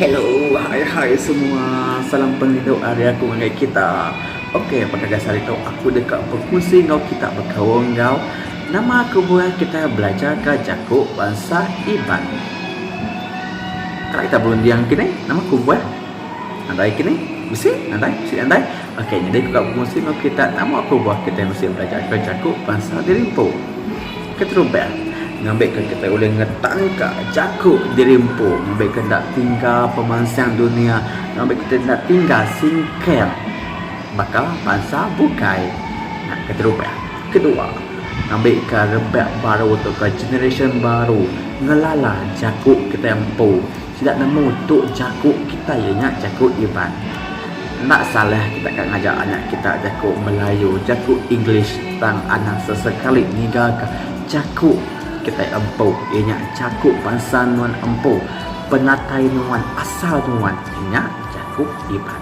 Hello hai hai semua salam pengidup ari aku ngagai kita. Ok pekak gasan hari tu aku deka bekunsi enggau kita bekaul enggau nama kebuah kita belajar ka jaku bansa iban. Kala kita berunding kinih nama kebuah nadai kinih bisi nadai bisi nadai ok nyadi aku ka bekunsi enggau kita nama kebuah kita bisi belajar ka jaku bansa diri empu. Keterubah, ngambika kitai ulih ngetanka jaku diri empu ngambika enda tingga pemansang dunia, ngambika kitai enda tingga singkang baka bansa bukai. Nah, keterubah. Kedua, ngambika rebak baru tauka generasyen baru ngelala jaku kitai empu. Sida nemu tu jaku kitai iya nya jaku Iban. Enda salah kita ka ngajar anak kita jaku Melayu, jaku English tang anang sesekali ninggalka jaku kitai empu iya nya jaku bansa nuan empu, penatai nuan, asal nuan iya nya jaku Iban.